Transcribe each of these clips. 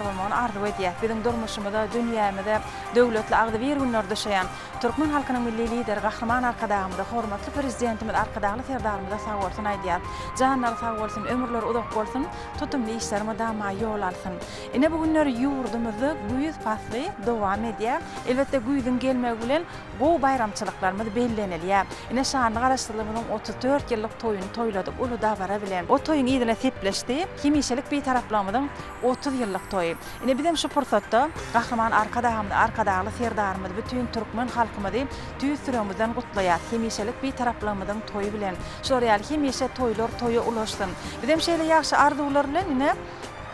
bolmagyny arzuw edýäs. Biziň durmuşymyza, dünýämize döwletli agzybir günler düşeýän Türkmen halkynyň Milli Lideri Gahryman Arkadagymyza, hormatly Prezidentimiz Arkadagly Serdarymyza sag bolsun aýdýas. Janlary sag bolsun, ömürleri uzak bolsun, tutumly işler mydama ýol alsyn. Ine bu günler ýurdumyzda güýz pasly dowam edýär. Elbetde güýzüň gelmegi bilen gowy baýramçylyklarymyz bellenilýär. Ine şanly Garaşsyzlygymyzyň otuz dört ýyllyk toýuny toýladyk uly dabara bilen. O toýuň yzyna sepleşdi. Hemişelik Bitaraplygymyzyň Otuz ýyllyk toýy. Ine bizem şu pursatda Gahryman Arkadagymyzy, Arkadagly Serdarymyzy, bütin türkmen halkymyzy tüýs ýüregimizden gutlaýas, hemişelik Bitaraplygymyzyň toýy bilen. Şular ýaly hemişe toýlar toýa ulaşsyn. Bizem şeýle ýagşy arzuwlar bilen ine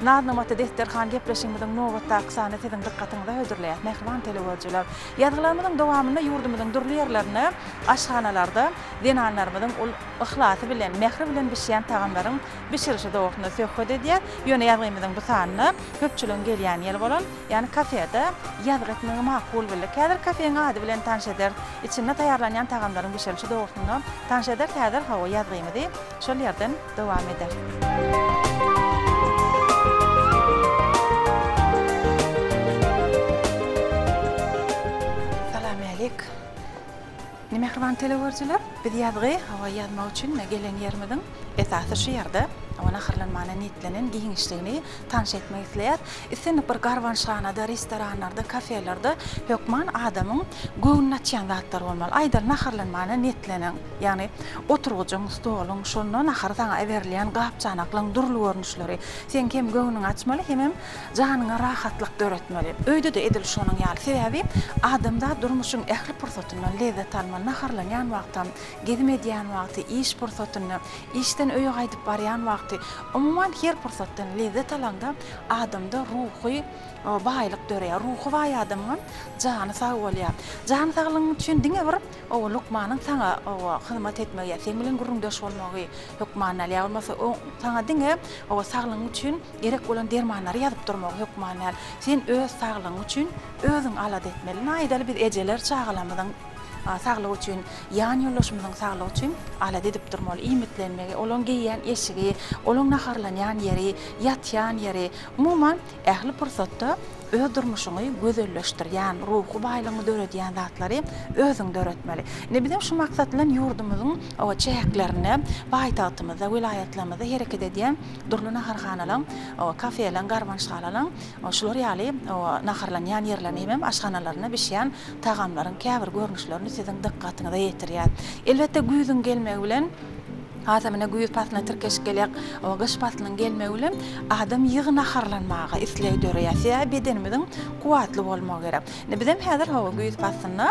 Naznamaty desterhan gepleşigimiziň nobatdaky sanyny siziň dykgatyňyza hödürleýäs, mähriban telewyzçylar. Ýazgylarymyzyň dowamynda ýurdumyzyň dürli ýerlerinde, aşhanalarda zenanlarymyzyň ul yhlasy bilen, mähri bilen bişýän tagamlaryň bişirişi dogrusynda söhbet edýär, ýöne ýazgymyzyň bu sanyna köpçüligiň gelýän ýeri bolan, ýagny kafede ýazgy etmegi makul bildik. Häzir kafeň ady bilen tanyş ederis, içinde taýýarlanýan tagamlaryň bişirişi dogrusynda tanyş ederis, häzir hawa ýazgymyzy şol ýerden dowam ederis. Salamyaleýk. Ine mähriban telegörüjiler biz ýazgy hawa ýazmak üçin ine gelen ýerimiziň esasy şu ýerde hawa naharlanmana niýetlenen giňişligini tanyş etmek isleýäs. Islendik bir garbanşhanada, restoranlarda, kafelerde hökman adamyň göwnüni açýan zatlar bolmaly. Aýdaly naharlanmana niýetlenen ýagny oturgyjyň, stoluň, şonda nahary saňa iberilýän gap-çanaklaryň dürli görnüşleri seň hem göwnüňi açmaly hemem Janyňa rahatlyk döretmeli. Öýde-de edil şonuň ýaly. Sebäbi adamzat durmuşyň ähli pursatyndan lezzet almaly. Naharlanýan wagtam, gezim edýän wagty, iş pursatynda, işden öýe gaýdyp barýan wagty, umuman her pursatdan lezzet alaňda adamda ruhy baýlyk döreýär. Ruhy baý adamyňam jany sag bolýar. Jan saglygyň üçin diňe bir oba lukmanyň saňa oba hyzmat etmegi ýa seň bilen gürrüňdeş bolmagy hökmany däl. Ýa bolmasa oň saňa diňe oba saglygyň üçin Gerek bolan dermanlary ýazyp durmagy hökman däl. Sen öz saglygyň üçin özüň alada etmeli. Naýdaly biz ejeler çagalarymyzyň saglygy üçin, ýan ýoldaşymyzyň saglygy üçin alada edip durmaly. Iýmitlenmegi, olaň geýýän eşigi, olaň naharlanýan ýeri, ýatýan ýeri, umuman ähli pursatda öz durmuşyňy gözelleşdirýän, ruhy baýlygyňy döredýän zatlary özüň döretmeli. Indi biziň şu maksat bilen ýurdumyzyň çäklerinde, paýtagtymyzda, welaýatlarymyzda hereket edýän, Dürli naharhanalaň, kafelaň, garbanşgalalaň şular ýaly naharlanýan ýerlerine hemem aşhanalarynda bişýän tagamlaryň käbir görnüşlerini siziň dykgatyňyza ýetirýär. Elbetde güýzüň gelmegi bilen, hasam ine güýz paslyna tirkeşip gelýäk, gyş paslynyň gelmegi bilen adam ýygy naharlanmaga isleg döreýär. Sebäbi bedenimiziň kuwwatly bolmagy gerek. Indi bizem häzir hawa güýz paslynda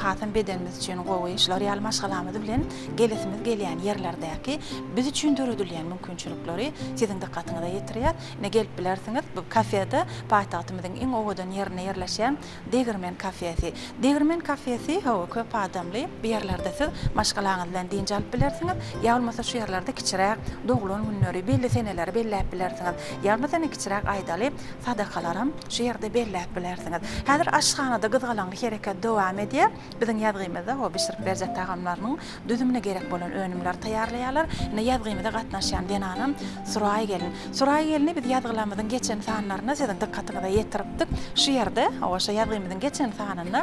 hasam bedenimiz üçin gowy, şular ýaly maşgalamyz bilen gelisimiz gelýän ýerlerdäki biz üçin döredilýän mümkinçilikleri siziň dykgatyňyza ýetirýäs. Ine gelip bilersiňiz bu kafede paýtagtymyzyň iň owadan ýerinde ýerleşýän Degirmen kafesi. Degirmen kafesi hawa köp adamly. Bu ýerlerde siz maşgalaňyz bilen dynç alyp bilersiňiz. Ýa bolmasa şu ýerlerde kiçiräk doglan günleri, belli seneleri belläp bilersiňiz. Ýa bolmasa ine kiçiräk aýdaly sadakalaram şu ýerde belläp bilersiňiz. Häzir aşhanada gyzgalaňly hereket dowam edýär. Biziň ýazgymyzda ho bişirip berjek tagamlarynyň düzümine gerek bolan önümleri taýýarlaýarlar. Ine ýazgymyza gatnaşýan zenanam Suraý gelin. Suraý gelini biz ýazgylarymyzyň geçen sanlarynda siziň dykgatyňyza ýetiripdik. Şu ýerde, hawa, şo ýazgymyzyň geçen sanynda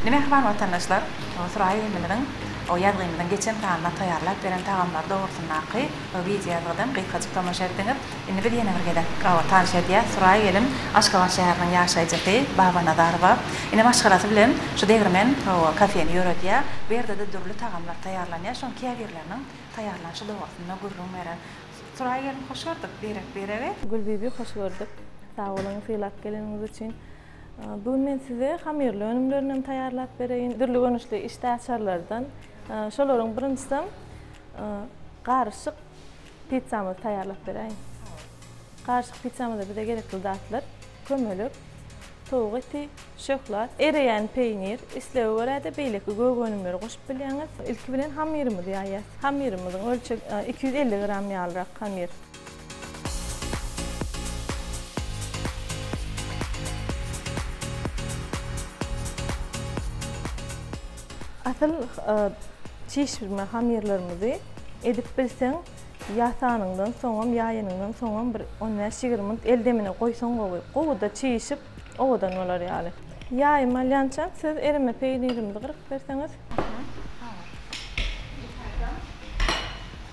Indi mähriban watandaşlar, Suraý ilimiziň ýazgymyzyň geçen sanynda taýýarlap beren tagamlary dogrusyndaky wideo ýazgydan gysgajyk tomaşa etdiňiz. Indi biz ýene bir gezek Gabat tanyş edýäs. Suraý gelin Aşgabat şäheriniň ýaşaýjysy Baba Nazarowa. Ine maşgalasy bilen şu degirmen kafeni ýöredýär. Bu ýerde-de dürli tagamlar taýýarlanýar. Şoň käbirleriniň taýýarlanyşy dogrusynda gürrüň berer. Suraý gelin hoş gördük. Birek-biregi. Gülbibi hoş gördük. Sag boluň sylap geleniňiz üçin. Bu gün men size hamyrly önümlerinden taýýarlap bereýin. Dürli görnüşli işdäaçarlardan. Şolaryň birinjisem garyşyk pizzamyzy taýýarlap beräýin. Garyşyk pizzamyza bize gerekli zatlar, kömelek, towuk eti, şöhlat, ereýän peýnir, islege görä-de beýleki gök önümleri goşup bilýäňiz. Ilki bilen hamyrymyzy ýaýýarys. Hamyrymyzyň ölçeg iki ýüz elli gram ýalyrak hamyr. Asyl çişirme hamyrlarymyzy edip bilseň ýasanyňdan soňam ýaýanyňdan soňam bir on bäş ýigrimi minut el demine goýsaň gowy gowuda çişip owadan bolar ýaly. Ýaýymy alýançam siz erime peýnirimizi gyryp berseňiz.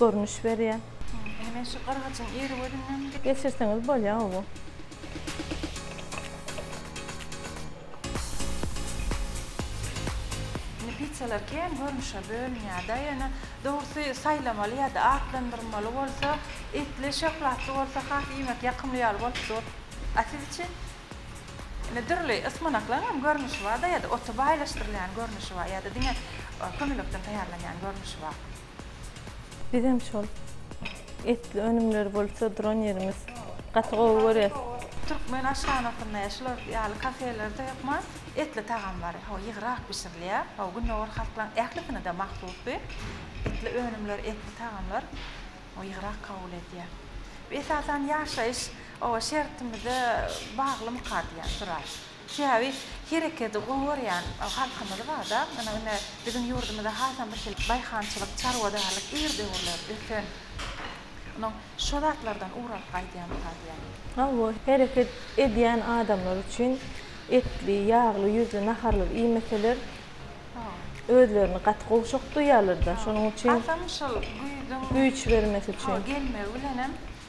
görnüş berýär. Indi men şu gyrgyjyň ýeri gözünden geçirseňiz bolýar gowy. Indi piçalar kän görnüşe bölünýärda ýöne dogrusy saýlamaly ýada atlandyrmaly bolsa etli şöhlatly bolsa has iýmek ýakymly ýaly bolup dur. A siz üçin? Indi dürli ysmanaklaň hem görnüşi barda ýada oty baýlaşdyrylýan görnüşi bar ýada diňe kömelekden taýýarlanýan görnüşi bar. Bizem şol etli önümleri bolsa duran ýerimiz gaty gowy görýäs. Türkmen aşhanasynda ýa şular ýaly kafelerde hökman etli tagamlary ho ýygrak bişirilýär. Ho gündogar halklaryň ählisine-de mahsusdy. Etli önümler, etli tagamlar ho ýygrak kabul edýär. Esasan ýaşaýyş oba şertimize baglymyka diýýän sural. Sebäbi her ekedi gowy görýän halkymyz barda, ine ine biziň ýurdumyzda hasam bir şeýle daýhançylyk, çarwadarlyk ir döwürler ösen. Ine şo zatlardan ugur alyp gaýdýamyka diýýän. Hawa, hereket edýän adamlar üçin etli, ýagly, ýüzli naharlar iýmeseler, özlerini gaty gowşak duýýarlar-da, şonuň üçin güýç bermesi üçin. Hawa, gelmegi bilenem.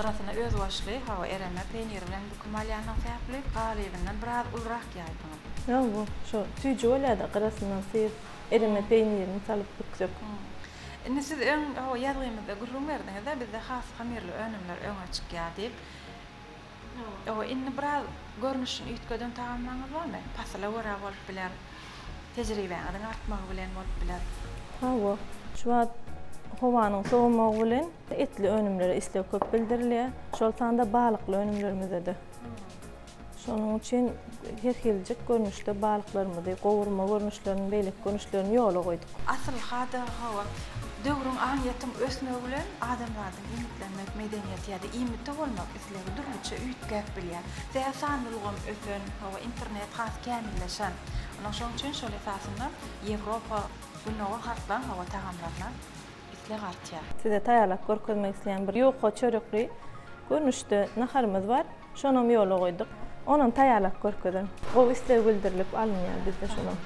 Gyrasyna özbaşly hawa ereme peýnir bilen büküm alýanyň sebäpli galybyndan biraz ulurak ýaýdyňyz. Ýok bu şu süýji bolýada gyrasyndan syryp ereme peýnirini salyp büksek. Indi siz öň hawa ýazgymyzda gürrüň berdiňizde bizde has hamirli önümler öňe çykýar diýip. Ýok, indi biraz görnüşini üýtgeden tagamlaryňyz barmy? Pasyla görä bolup biler, tejribäňiziň artmagy bilen bolup biler. Hawa, şu wagt howanyň sowamagy bilen etli önümlere isleg köp bildirilýär, şol sanda balykly önümlerimize-de. Şonuň üçin her hiljik görnüşde balyklarymyzy, gowurma görnüşlerini, beýleki görnüşlerini ýola goýduk. Asylha-da, hawa, döwrüň, aňyýetiň ösmegi bilen adamzadyň iýmitlenmek medeniýeti ýa-da iýmiti bolmak Tilegi dürlüçe üýtgäp bilýär. Däl sanly ulgam ösen, hawa, internet has kämilleşen. Ony şoň üçin şol esasynda Ýewropa, Günowa halklaryň, hawa, tagamlaryna isleg artýar. Size taýýarlap görkezmek isleýän bir ýuka çörekli görnüşde naharymyz bar. Şonam ýola goýduk. Onam taýýarlap görkezeň. Gowy isleg bildirilip alynýar bizde şonam.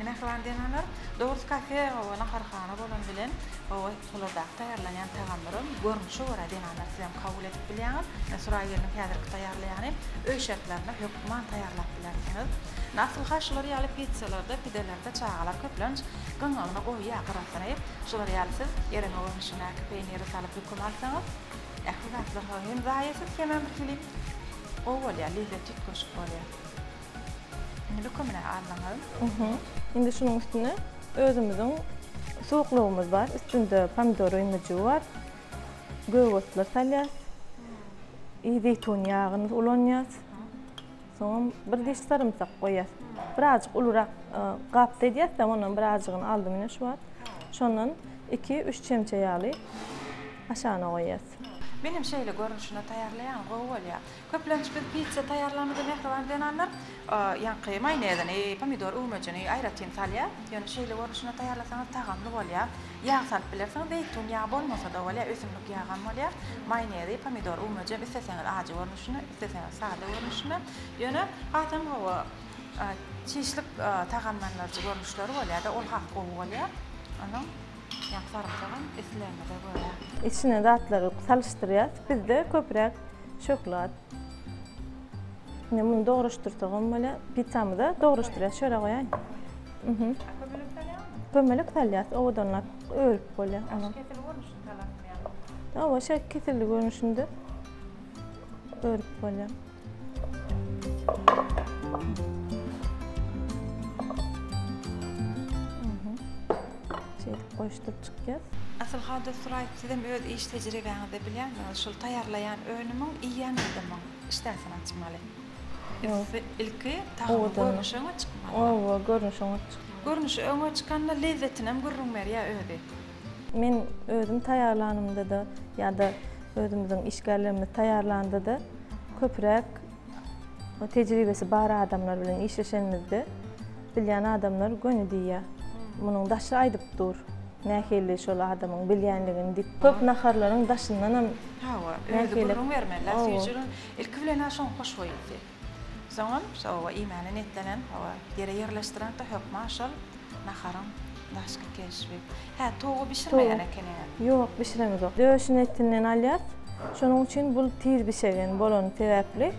Mähriban zenanlar, dogrusy kafe, hawa, naharhana bolan bilen, hawa, Olarda taýýarlanýan tagamlaryň görnüşe görä zenanlar siz hem kabul edip bilýäňiz. Suraý gelniň häzirki taýýarlaýany öý şertlerinde hökman taýýarlap bilersiňiz. Asylha şular ýaly pizzalarda, pidelerde çagalar köplenç gyňagyna goýýar gyrasyny. Şular ýaly siz ereňe görnüşindäki peýniri salyp höküm alsaňyz, ähli zatlar hem zaýasyz hemem bir hili gowy bolýar, lezzeti üýtgeşik bolýar. Indi lükümini aldyňyz. Indi şunuň üstüne özümiziň suwuklygymyz bar. Üstünde pomidor öýmejigi bar. Gök otlar salýas. I zeýtun ýagyny ulanýas. Soňam bir diş sarymsak goýýas. Birazjyk ulurak gapda edýäs-de, ondan birazjygyny aldym ine şu wagt. Şondan iki, üç çemçe ýaly aşagyna goýýas. Menem şeýle görnüşinde taýýarlaýan gowy bolýar. Köplenç biz pitsa taýýarlaýmyzda mähriban zenanlar ýaňky maýonezini, pomidor öwmejini aýratyn salýar. Ýöne şeýle görnüşinde taýýarlasaňyz tagamly bolýar. Ýag salyp bilersiňiz, zeýtun ýagy bolmasa-da bolýar, ösümlik ýagam bolýar. Maýonezi, pomidor öwmejem isleseňiz ajy görnüşinde, isleseňiz sada görnüşinde. Ýöne hasam gowy çişlik tagamlandyryjy görnüşleri bolýar-da, ol has gowy bolýar onuň. Ýa sarymsagam islegiňize görä. Içine zatlary salyşdyrýas. Bizde köpräk şöhlat. Indi muny dogryşdyrsagam bolýar. Pizzamyza dogryşdyrýas. Şöra goýaýyn. Mhm. A kömelek salýaňmy? Kömelek salýas. Owadanlap örüp bolýar ony. Kesilgi görnüşinde salarsyňmy ýa? Hawa, şeýle kesilgi görnüşinde örüp bolýar. goýuşdyryp çykýas. Asylhada suraýyp sizem öz iş tejribeňizde bilýänsiňiz şul taýýarlaýan önümiň iýýän adamyň işdäsini açmaly. Ýogsa ilki tagamyň görnüşiňe çykmaly. Owa görnüşiňe çykmaly. Görnüşi öňe çykanda lezzetinem gürrüň berýär özi. Men özüm taýýarlanymda-da ýa-da özümiziň işgärlerimiz taýýarlanda-da köpräk tejribesi bar adamlar bilen işleşenimizde bilýän adamlar göni diýýär. Munuň daşy aýdyp dur, nähili şol adamyň bilýänligini diýip. Köp naharlaryň daşyndanam nähili. Hawa, özi gürrüň bermeli-ä, süýjüligiň ilki bilen-ä şoň hoşboýusy. Soňam şo oba iýmäne niýetlenen oba ýere ýerleşdireňda hökman şol naharyň daşky keşbi. Hä, towugy bişirmeýän ekeniňiz? Ýok, bişireňzok. Döşüni etinden alýas. Şonuň üçin bul tiz bişegen bolany sebäpli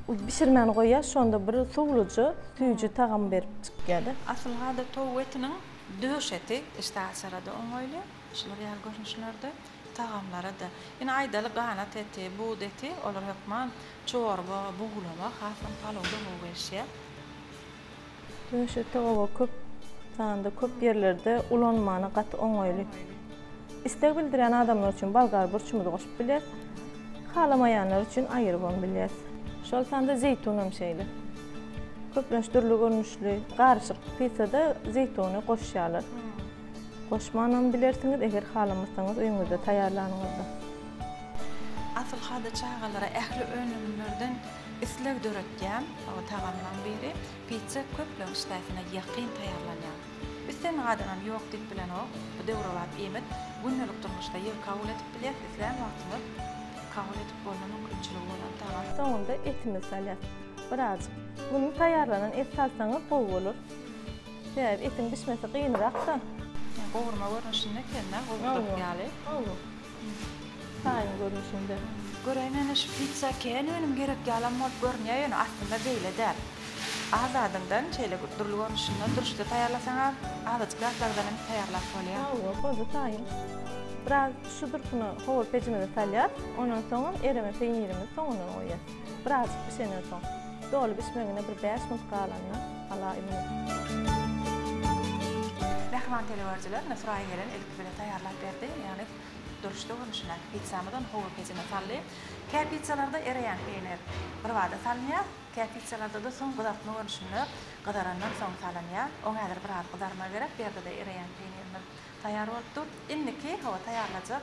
bişirmän goýýas, şonda bir suwlujy, süýji tagamy berip çykýada. Asylhada towuk etiniň döş eti işdäaçara-da oňaýly, şular ýaly görnüşlerde. Tagamlara-da, ine, aýdaly, ganat eti, buz eti, olar hökman çorba, buglama, hasam palawda gowy gelişýär. Döşe toga köp sanda, köp ýerlerde ulanmana gaty oňaýly. Isleg bildirýän adamlar üçin bolgar burçumyzy goşup bilýäs. Halamaýanlar üçin aýyrybam bilýäs. Şol sanda zeýtun hem şeýle. Köplenç dürli görnüşli garyşyk pitsada zeýtuny goşýarlar. Goşmanam bilersiňiz eger halamasaňyz öýüňizde taýýarlanyňyzda. Asylhada çagalara ähli önümlerden isleg döretýän tagamlaň biri. Pitsa köpleň işdäsine ýakyn taýýarlanýar. Biz seniň adamam ýok diýip bilenok. Bu döwrebap iýmit. Gündelik durmuşda ýygy kabul edip bilýäs, islän wagtymyz kabul edip bolma mümkinçiligi bolan tagam. Soňunda etimizi salýas. Birazjyk. Muny taýýarlanan et salsaňyz gowy bolar. Sebäbi etiň bişmesi gynyrak-da. Ýa gowurma görnüşinde ekeni-dä, gowurdak ýaly. Hawa. Taýyn görnüşinde. Göräýiň ene şu pitsa kän önüm gerek ýalam bolup görünýär ýöne aslynda beýle däl. Az zadyndan şeýle bir dürli görnüşinde dürüşde taýýarlasaň az azajyk zatlardan hem taýýarlap bolýar. Hawa boldy taýyn. Biraz şu durkuna howur pejimizi salýas, ondan soňam ereme peýnirimizi soňundan goýýas. Birazjyk bişenden soň. Doly bişmegine bir bäş minut galanda. Mähriban telewörüjiler ine Suraýa gelen ilki bile taýýarlap berdi. Ýagny duruşda görnüşindäki pizzamyzy ony howur pejine saldy. Kä pizzalarda ereýän peýnir birbada salynýar, kä pizzalarda-da soň gyzartma görnüşinde gyzarandan soň salynýar. Oň häzir biraz gyzarmagy gerek. Bu ýerde-de ereýän peýnirimiz taýýar bolup dur. Indiki hawa taýýarlajak.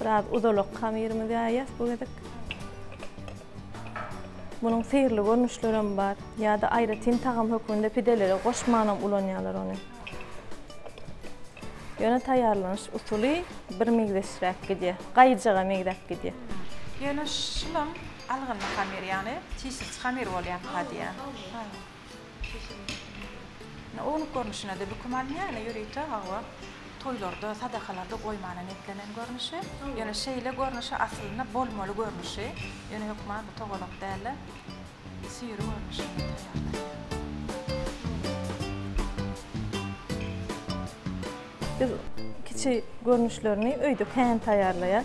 Biraz uzalak hamyrymyzy ýaýýas bu gezek. Munuň syrly görnüşleri hem bar. Ýa-da aýratyn tagam hökmünde pidelere goşmanam ulanýarlar ony. Ýöne taýýarlanyş usuly bir meňzeşräk gidýär. Gaýyjaga meňzäp gidýär. Ýöne şulam algynly hamyr, ýagny çişirçi hamyr bolýar, hadýa. Ine, ownuk görnüşine-de büküm alynýar, ýöne ýörite, hawa, toýlarda, sadakalarda goýmana niýetlenen görnüşi. Ýöne şeýle görnüşi aslynda bolmaly görnüşi, ýöne hökman bu togalak däl-de, süýri görnüşinde taýýarlanýar. Biz kiçi görnüşlerini öýde kän taýýarlaýarys.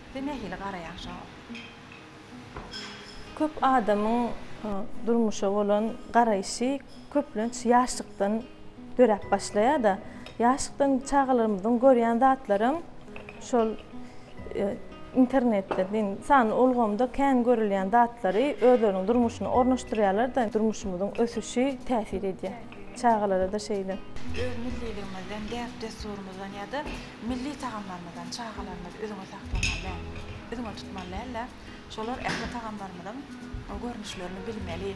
Sen nähili garaýaň şoňa? Köp adamyň durmuşa bolan garaýşy köplenç ýaşlykdan döräp başlaýar-da. Ýaşlykdan çagalarymyzyň görýän zatlaram şol internetde diýin, sanly ulgamda kän görülýän zatlary özleriniň durmuşyna ornaşdyrýarlar-da, durmuşymyzyň ösüşi täsir edýär. Çagalara-da şeýle. Öz milliligimizden, däp-dessurymyzdan ýa-da Milli tagamlarymyzdan çagalarymyz üzňe saklamaly däl, üzňe tutmaly däl-de, şolar ähli tagamlarymyzyň görnüşlerini bilmeli.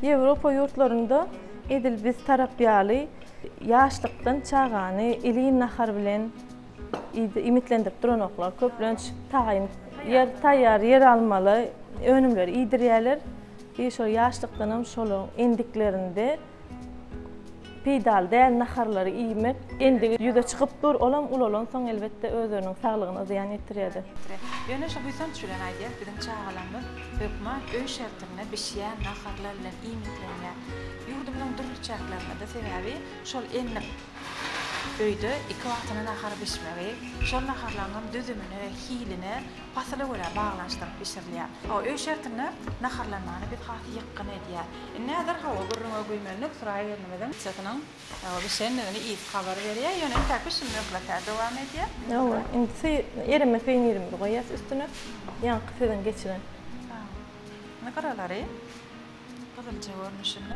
Ýewropa ýurtlarynda edil biz tarap ýaly ýaşlykdan çagany iliň nahar bilen iýmitlendirip duranoklar. Köplenç taýyn ýer, taýýar ýer almaly önümleri iýdirýärler. Şol ýaşlykdanam şolar endiklerinde, Peýdaly däl naharlary iýmek endigi ýüze çykyp dur, olam ulalansoň elbetde özleriniň saglygyna zyýan ýetirýärdi. Ýöne şu buýsanç bilen aýdýas biziň çagalarymyz hökman öý şertinde bişýän naharlar bilen iýmitlenýär. Ýurdumyzyň dürli çäklerindede sebäbi şol enlik öýde iki wagtyna nahar bişmegi, şol naharlaryňam düzümine we hiline pasyla görä baglanyşdyryp bişirilýär. Öý şertinde naharlanmany biz has ýykgyn edýär. Indi häzir hawa gürrüňe güýmen Nusra egnimiziň çysynyň bişendigini iýip habar berýär, ýöne entäk bişimi möhletä dowam edýär. Hawa, indi sy erime peýnirimizi goýýas üstüne, ýaňky siziň geçiren. Indi gyralary gyzylja görnüşinde.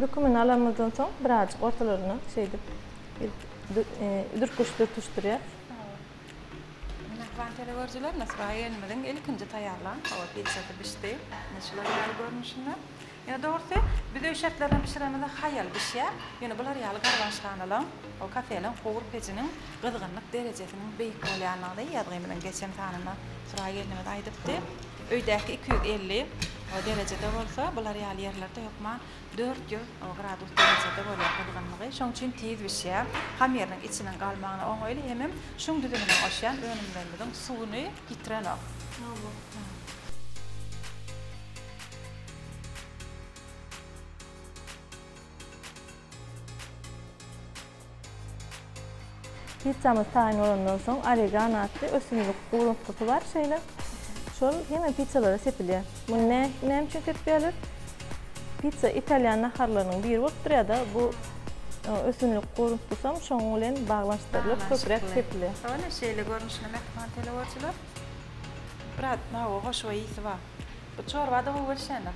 Dökümini alanymyzdan soň birazjyk ortalaryna şeýdip dürtgüç dürtüşdirýär. Mähriban telegoryjylar Nusra gelnimiziň ilkinji taýýarlan hawa pizasy bişdi. Ine şular ýaly görnüşinde. Ýöne dogrusy biz öý şertlerinde bişirenimizde haýal bişýär. Ýöne bular ýaly garbanşganalan, o kafeleň howur pejiniň gyzgynlyk derejesiniň beýik bolýandygyny ýazgymyzyň geçen sanynda Suraý gelnimiz aýdypdy. Öýdäki iki ýüz elli derejede bolsa, bular ýaly ýerlerde hökman dört ýüz gradus derejede bolýar gyzgynlygy. Şonuň üçin tiz bişýär. Hamyrynyň içiniň galmagyna oňaýly, hemem şuň düzümine goşýan önümlerimiziň suwuny ýitirenok. Hawa. Pizzamyz taýyn bolandan soň oregano atly ösümlik guruntusy bar şeýle. Şol hemme pizzalara sepilýär. Muny näme üçin sepýärler? Pizza italýan naharlarynyň biri bolup durýar-da, bu ösümlik guruntusam şonuň bilen baglanyşdyrylyp köpräk sepilýär. Ine şeýle görnüşli mähriban teleworçylar. Biraz hawa hoşboý ysy bar. Bu çorba-da gowy gelişýändir.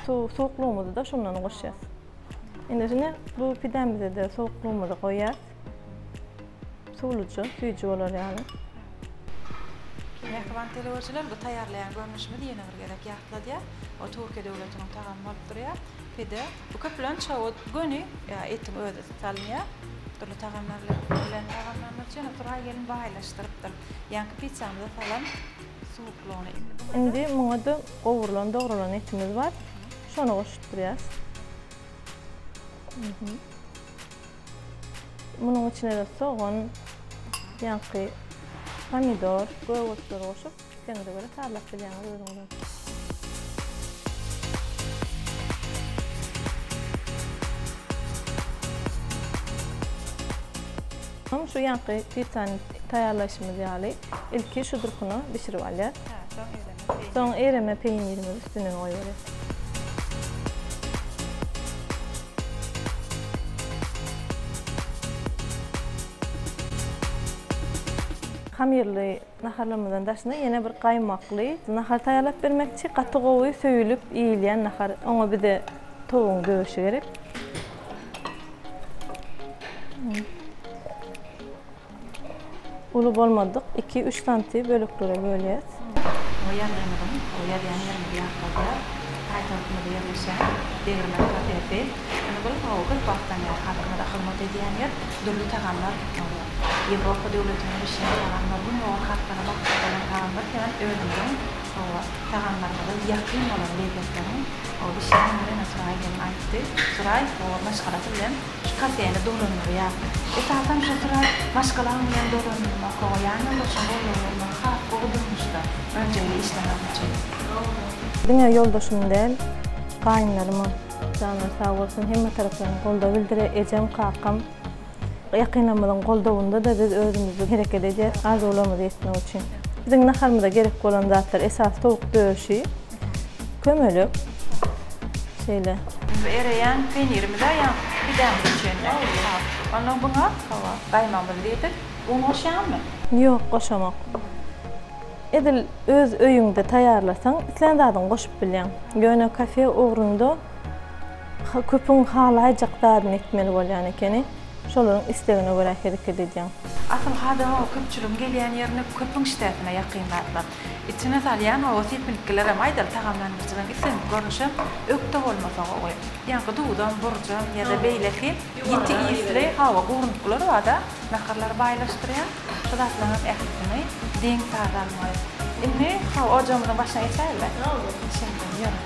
Suwuklygymyzy-da şundan goşýas. Indi şine bu pidämize de sowuklygymyzy goýýas. Suwluja, süýji bolar ýaly. Mähriban telewiziýalar, bu taýýarlaýan görnüşimiz ýene bir gezek ýatladýar, ol Türkiýe döwletiniň tagamy bolup durýar, pide. Bu köplenç şowut göni etiň özi salynýar, dürli tagamlar bilen tagamlandyryp, jana Turay gelin baýlaşdyrypdyr. Ýaňky pitsýamyza salan Indi muňa-da gowrulan, dogralan etimiz bar. Şony goşdurýas. Munuň içine-de sogan, ýaňky pomidor, göwürsleri goşup, islegiňize görä sazlap bilýäňiz özüňiz. Şu ýaňky pitsany taýýarlaýşymyz ýaly, Ilki şu durkuna bişirip alýas. Soň ereme peýnirimizi üstüne goýberýas. Hamyrly naharlarymyzdan daşynda ýene bir gaýmakly nahar taýýarlap bermekçi. Gaty gowy söýülip iýilýän nahar. Oňa bize towugyň döwüşi gerek. Uly bolmadyk iki, üç santy böleklere bölýäs. Bu ýazgymyzyň, bu ýazýan ýerimizi ýatladýar. Paýtagtymyzda ýerleşýän Degirmen kafesi. Indi bu hawa köp wagtdan bäri halkymyza hyzmat edýän ýer. Dürli tagamlar Ýewropa döwletinde bişýän tagamlar, gündogar halklaryna mahsus bolan tagamlar sebäp özümiziň hawa tagamlarymyza ýakyn bolan lezzetleriň bişýän ýeri ine Suraý gelin aýtdy. Suraý bu maşgalasy bilen Şu kafeni dolandyrýar. Esasan şu syra maşgalaň bilen dolanylmaky we ýanýoldaşyň goldawy bolmagy has gowy durmuşda rejeli işlemek üçin. Dogry. Diňe ýoldaşymy däl, gaýynlarymy, janlary sag bolsun, hemme tarapdan goldaw bildirer, ejem, kakam, ýakynlarymyzyň goldawynda-da biz özümizi hereket edýäris, arzuwlarymyzy ýetmek üçin. Biziň naharymyza gerek bolan zatlar esasy towuk döşi. Kömelek. Şeýle. Indi ereýän peýnirimize ýa pidämize çenli. Onda buňa hawa, gaýmagymyzy diýdik. Un goşýaňmy? Ýok, goşamok. Edil öz öýüňde taýýarlasaň, islän zadyňy goşup bilýäň. Ýöne kafe ugrunda köpüň halaýjak zadyny etmeli bolýan ekeni. Şolaryň islegine görä hereket edýäň. Asyl hada köpçüligiň gelýän ýerinde köpüň işdäsine ýakyn zatlar. Içine salýan oba sepiltgilerem, aýdal, tagamlandyryjylaryň islendik görnüşem ökde bolmasa gowy. Ýaňky duzam, burjam ýa-da beýleki ýiti isli, hawa, gurunyklar bar-da, naharlary baýlaşdyrýan, şu zatlaryňam ählisini deň-saz almaly. Indi, hawa, ojagymyzyň başyna geçäýeli-de. Şeýle, ýör.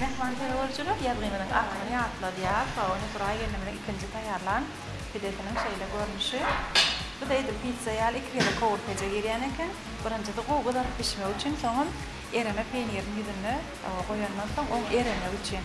Mähman terrorçylar ýazgynynyň adyny ýatladýar we ony buraý gelnimiziň ikinji taýýarlan pidesiniň şeýle görnüşi. Bu-da edil pitsa ýaly iki gezek howurpeje girýän eken. Birinjisi gowy gyzaryp bişmegi üçin, soňam ereme peýnirini ýüzüne goýandan soň oň eremegi üçin.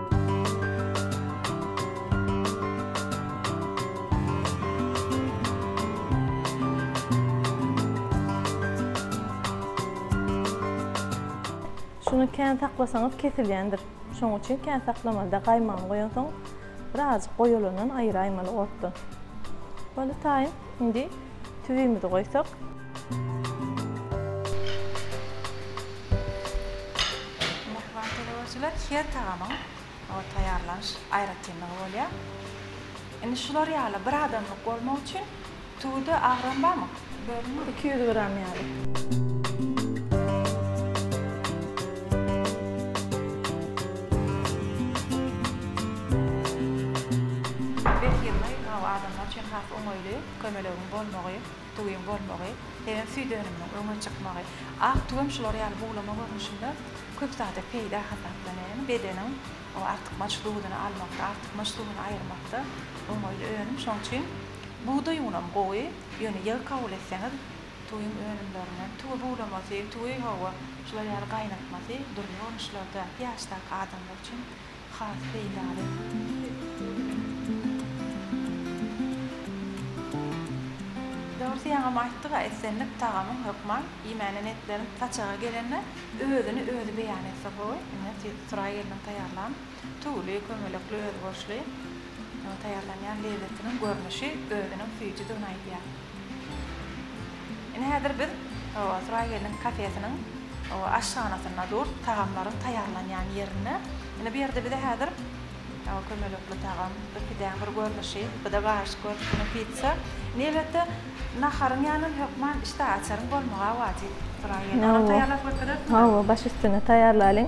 Şuny kän saklasaňyz kesilýändir. Şoň üçin kän saklamalyda gaýmagyny goýansoň birazajyk goýalandan aýyraýmaly otdan. Boldy taýyn. Indi tüwimizi goýsak. Mähriban teleüraçylar, her tagamyň taýýarlanyş aýratynlygy bolýar. Indi şular ýaly bir adamlyk bolmak üçin tüwide agram barmy? Bölüň. Iki ýüz gram ýaly. Berhiz, bu adamlar üçin has oňaýly. Kömelegiň bolmagy, tuguň bolmagy, sebem süýt önüminiň öňe çykmagy. Ak tug hem şular ýaly buglama görnüşinde köp zada peýda hasaplanýar. Ýagny bedeniň o artykmaç duzuny almakda, artykmaç duzuny aýyrmakda oňaýly önüm. Şonuň üçin bugdaý unam gowy, ýöne ýygy kabul etseňiz tuguň önümlerinden, tugy buglamasy, tugy hawa, şular ýaly gaýnatmasy dürli görnüşlerde, ýaşdaky adamlar üçin Has peýdaly. Dogrusu ýaňam aýtdyga islendik tagamyň hökman iýmänem etlerin saçaga gelende özüni özi beýan etse gowy ine siz Suray gelniň taýýarlan tüwli kömelekli özboluşly taýýarlanýan lezzetiniň görnüşi özüniň süýjüdigini aýdýar. Ine häzir biz Suraý gelniň kafesiniň aşhanasynda durs, tagamlaryň taýýarlanýan ýerinde. Ine bu ýerde bize häzir kömelekli tagam, bir pidäň bir görnüşi, bu-da garyşyk görnüşinde pitsa. Ine elbetde naharyň ýanynda hökman işdäaçaryň bolmagy-a wajyp Suraý gelin. Onam taýýarlap götererismi? Hawa, baş üstüne taýýarlalyň.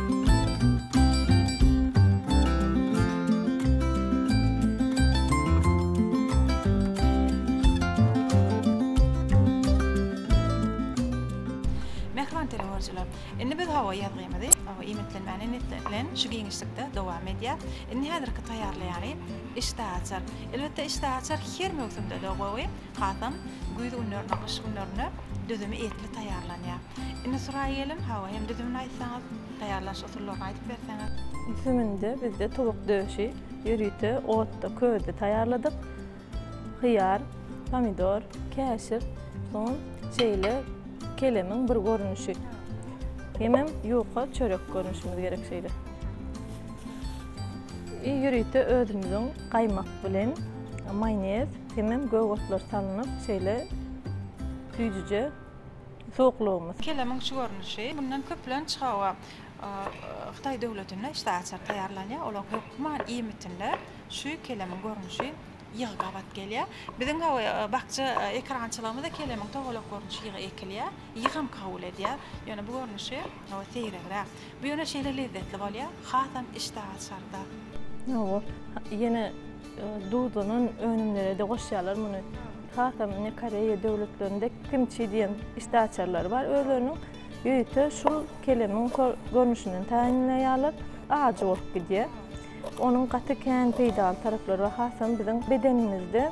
Mähriban teleüaryjylar! Indi biz hawa ýazgymyzy hawa iýmitlenmäni niýetlän şu giňişlikde dowam edýär. Indi häzirki taýýarlaýany işdäaçar. Elbetde işdäaçar her möwsümde-de gowy, hasam güýz günlerine, gyş günlerine düzümi etli taýýarlanýar. Indi Suraýa geliň, hawa hem düzümini aýtsaňyz, taýýarlanyş usullaryny aýdyp berseňiz. Düzüminde bizde towuk döşi ýörite otda, közde taýýarladyk. Hyýar, pomidor, käşir, soň şeýle kelemiň bir görnüşi. Hemem ýuka çörek görnüşimiz gerek şeýle. I ýörite özümiziň gaýmak bilen maýonez hemem gök otlar salnyp şeýle süýjüje. suwuklygymyz. Kelemiň şu görnüşi mundan köplenç hawa Hytaý döwletinde işte açar taýýarlanýar. Olaň hökman iýmitinde şu kelemiň görnüşi ýygy gabat gelýär. Biziň hawa bakja ekerançylygymyzda kelemiň togalak görnüşi ýygy ekilýär. Ýygam kabul edýär. Ýöne bu görnüşi Hawa seýregräk. Bu ýöne şeýle lezzetli bolýar, hasam işdä açarda. Hawa, ýene duzlanan önümlerede goşýarlar muny. Hasam ine Koreýa döwletlerinde kimçi diýen işdä açarlary bar özleriniň. Ýörite şul kelemiň görnüşinden taýynlaýarlar. Ajy bolup gidýär. Onuň gaty kän peýdaly taraplary bar, hasam biziň bedenimizde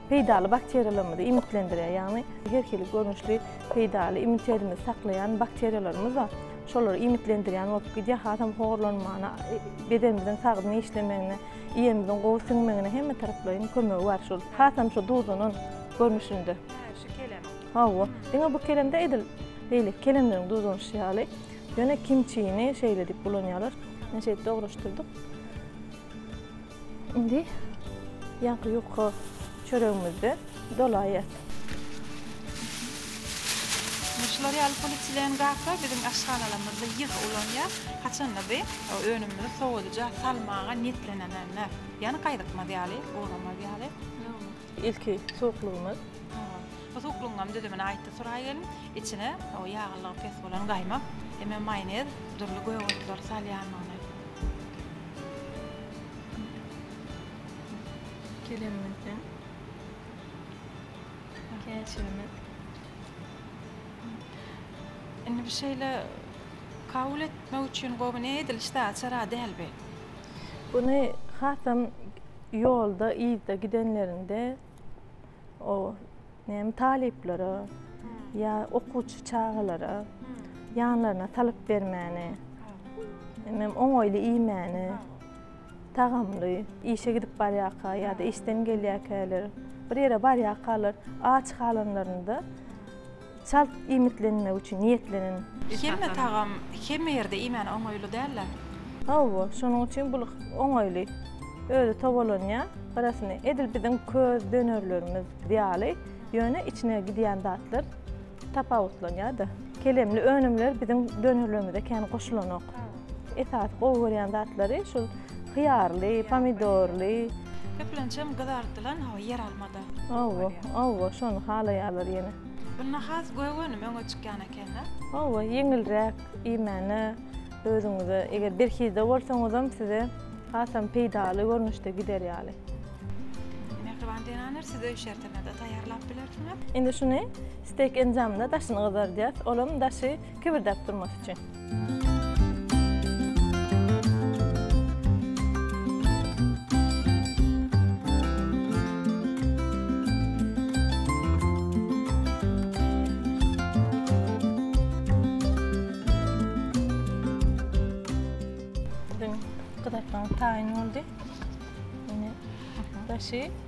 Peýdaly bakteriýalarymyzy iýmitlendirýär, ýagny her hili görnüşli peýdaly immunitetimizi saklaýan bakteriýalarymyz bar. Şolar iýmitlendirýän bolup gidýär, hasam horlanmana, bedenimiziň sagdyn işlemegine, iýenimiziň gowy siňmegine hemmetaraplaýyn kömegi bar şol. Hasam şu duzlanan görnüşinde. Hä, şu kelemiň. Hawa, diňe bu kelemde edil beýleki kelemleriň duzlanyşy ýaly, ýöne kimçini şeýle diýip ulanýarlar. Men şeýdip dogruşdyrdyk. Indi ýaňky ýuka çöregimizde dolaýýas. Ine şular ýaly polietilen gaplar biziň aşhanalarymyzda ýygy ulanýar. Haçanda bi önümimizi sowadyja salmaga niýetlenenende, ýagny gaýdykmaz ýaly, guramaz ýaly. Ilki suwuklygymyz. Bu suwuklygyňam düzümini aýtdy Suray gelin. Içine o ýaglylygy pes bolan gaýmak hemem maýonez, dürli gök otlar salýandygyny. Kelemimizden käşirimiz. Indi bu şeýle kabul etmek üçin gowy ne ediliş daçar-a däl bi. Buny hasam Ýolda, yzda gidenlerinde o näme talyplara ýa okuwçy çagalara ýanlaryna salyp bermäni, hemem oňaýly iýmäni, tagamly işe gidip barýarka ýa-da işden gelýärkäler, bir ýere barýarkalar aç galanlarynda Çalt iýmitlenmek üçin niýetlenen. Hemme tagam hemme ýerde iýmäne oňaýly däl-ä. Hawa, şonuň üçin bul oňaýly. Özi tobalanýar, garasyny edil biziň köz dönerlerimiz ýaly, ýöne içine gidýän zatlar tapawutlanýar-da. Kelemli önümler biziň dönerlerimize kän goşulanok. Esasy gowy görýän zatlary şul hyýarly, pomidorly. Köplençem gyzardylan, hawa, ýeralma-da. Hawa, hawa, şony halaýarlar ýene. Bunda has göwünüm öňe çykýan eken-dä. Hawa, ýeňilräk iýmäne özüňize, eger berhizde bolsaňyzam size hasam peýdaly görnüşde gider ýaly. Mähriban zenaner, siz öý şertinde-de taýýarlap bilersiňiz. Indi şuny stek enjamynda daşyny gyzardýas. Olam daşy Kibirdäp durmasy üçin. Gyzartmaň taýyny boldy. Indi daşy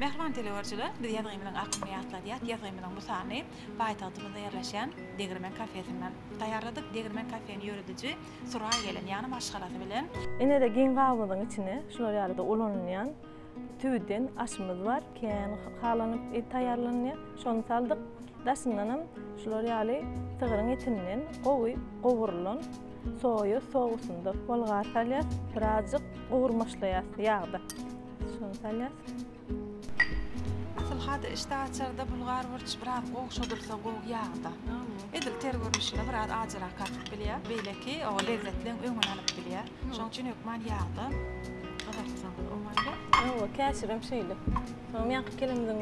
Mähriban teleügerçiler, biz ýazgymyzyň akynyny ýatladýas, ýazgymyzyň bu sanyny paýtagtymyzda ýerleşýän Degirmen kafesinden taýýarladyk. Degirmen kafeni ýörediji Suraý gelin ýany maşgalasy bilen. Ine-de giň gabymyzyň içine şular ýalyda ulanylýan tüwüden aşymyz bar, kän halanyp taýýarlanýar. Şony saldyk. Daşyndanam şular ýaly sygryň etinden gowy gowrulan. Soýa sousynda bolgar salýas, birazjyk gowurmaçlaýas ýagda. Şuny salýas. Asylhada işdä açarda bulgar burç biraz gowşadylsa gowy ýagda. Edil ter görnüşinde biraz ajyrak artyp bilýär. Beýleki o lezzetleň öňüni alyp bilýär. Şoň üçin hökman ýagda gyzartsaň oňaýly. Ýowa käşirem şeýle. Soňam ýaňky kelimizin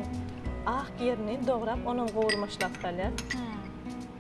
ak ýerini dograp onam gowurmaçlap salýas.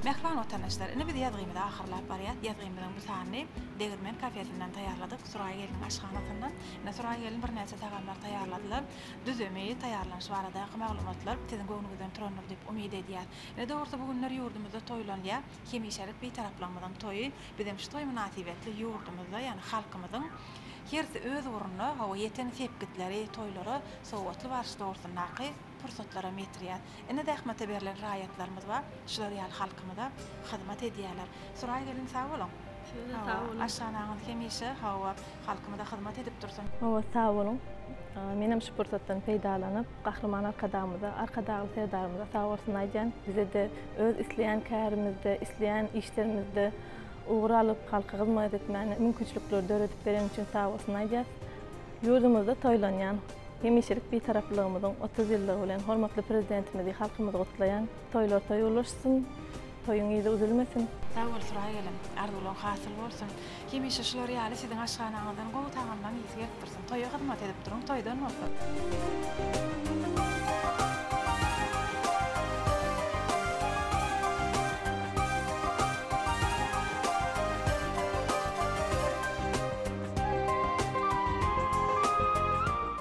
Mähriban watandaşlar, indi biz ýazgymyzy ahyrlap barýas. Ýazgymyzyň bu sanyny Degirmen kafesinden taýýarladyk, Suraý gelniň aşhanasyndan. Ine, Suraý gelin birnäçe tagamlar taýýarladylar. düzümi, taýýarlanyşy baradaky maglumatlar siziň göwnüňizden turandyr diýip umyt edýäs. Ne de bolsa bu günler ýurdumyzda toýlanýar hemişelik Bitaraplygymyzyň toýy. Bizem şu toý mynasybetli ýurdumyzda, ýagny halkymyzyň hersi öz ugrunda, hawa, ýeten sepgitleri, toýlara sowgatly baryş dogrusyndaky pursatlaram ýetirýär. Ine zähmete berlen raýatlarymyz bar, şular ýaly halkymyza hyzmat edýärler. Suraý gelin sag boluň. Sizem sag boluň. Aşhanaňyz hemişe hawa halkymyza hyzmat edip dursun. Hawa sag boluň. Menem şu pursatdan peýdalanyp Gahryman Arkadagymyza, Arkadagly Serdarymyza sag bolsun aýdýan. Bizede öz isleýän kärimizde, isleýän işlerimizde ugur alyp halka hyzmat etmäne mümkinçilikleri döredip bereni üçin sag bolsun aýdýas. Ýurdumyzda toýlanýan Hemişelik Bitaraplygymyzyň otuz ýyllygy bilen hormatly Prezidentimizi, halkymyzy gutlaýan. Toýlar toý ulaşsyn, toýuň yzy üzülmesin! Sag bol Suraý gelin. Arzuwlaň hasyl bolsun. Hemişe şular ýaly siziň aşhanaňyzdan gowy tagamlaň ysy gelip dursun. Toýa hyzmat edip duruň, toýdan bolsun.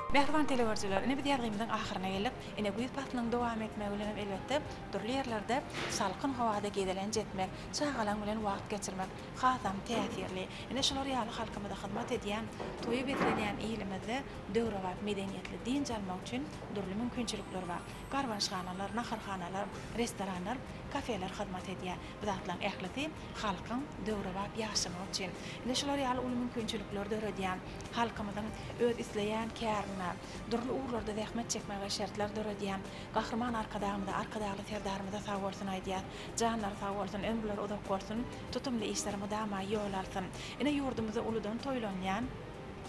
Mähriban telegörüjiler, ine biz ýazgymyzyň ahyryna geldik. Ine güýz paslynyň dowam etmegi bilen hem elbetde dürli ýerlerde salkyn howada gezelenç etmek, çagalaň bilen wagt geçirmek hasam täsirli. Ine şular ýaly halkymyza hyzmat edýän, toýy beslenýän ilimizde döwrebap medeniýetli dynç almak üçin dürli mümkinçilikler bar. Garbanyşhanalar, naharhanalar, restoranlar, kafeler hyzmat edýär. Bu zatlaryň ählisi halkyň döwrebap ýaşamagy üçin, ine şular ýaly uly mümkinçilikleri döredýän, halkymyzyň öz isleýän kärine, dürli ugurlarda zähmet çekmegine şertler döredýän Gahryman Arkadagymyza, Arkadagly Serdarymyza sag bolsun aýdýas. Janlary sag bolsun, ömürleri uzak bolsun, tutumly işler mydama ýol alsyn. Ine ýurdumyzda uludan toýlanýan,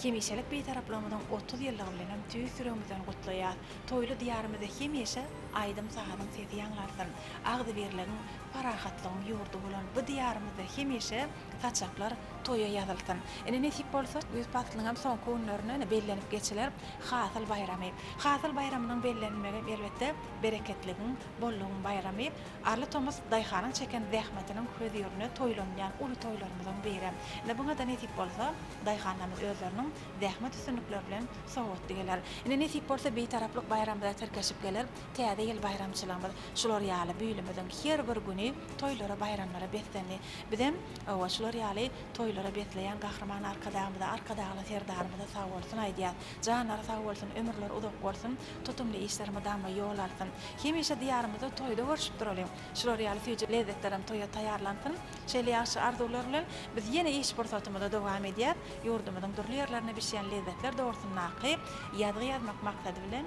hemişelik Bitaraplygymyzyň otuz ýyllygy bilenem tüýs ýüregimizden gutlaýas. Toýly Diýarymyzda hemişe aýdym-sazyň sesi ýaňlansyn. Agzybirligiň, parahatlygyň ýurdy bolan bu Diýarymyzda hemişe saçaklar toýa ýazylsyn! Ine, nesip bolsa, güýz paslynyňam soňky günlerine, ine, bellenip geçiler Hasyl baýramy. Hasyl baýramynyň bellenilmegi, elbetde, bereketligiň, bollugyň baýramy. Arly tomus daýhanyň çeken zähmetiniň hözirine toýlanylýan uly toýlarymyzyň biri. Ine, buňa-da nesip bolsa, daýhanlarymyz özleriniň zähmet üstünlikleri bilen sowgatly geler. Ine, nesip bolsa, Bitaraplyk baýramyza tirkeşip geler. Täze ýyl baýramçylygymyz şular ýaly bülümiziň her bir güni toýlara-baýramlara beslendi. Bizem, hawa, şular ýaly toýlara besleýän Gahryman Arkadagymyza, Arkadagly Serdarymyza sag bolsun aýdýas. Janlary sag bolsun, ömürleri uzak bolsun, tutumly işler mydama ýol alsyn. Hemişe Diýarymyzda toýda görşüp duralyň. Şular ýaly süýji lezzetlerem toýa taýýarlansyn. Şeýle ýagşy arzuwlar bilen, biz ýene iş pursatymyza dowam edýäs. Ýurdumyzyň dürli ýerlerinde bişýän lezzetler dogrusyndaky ýazgy ýazmak maksady bilen,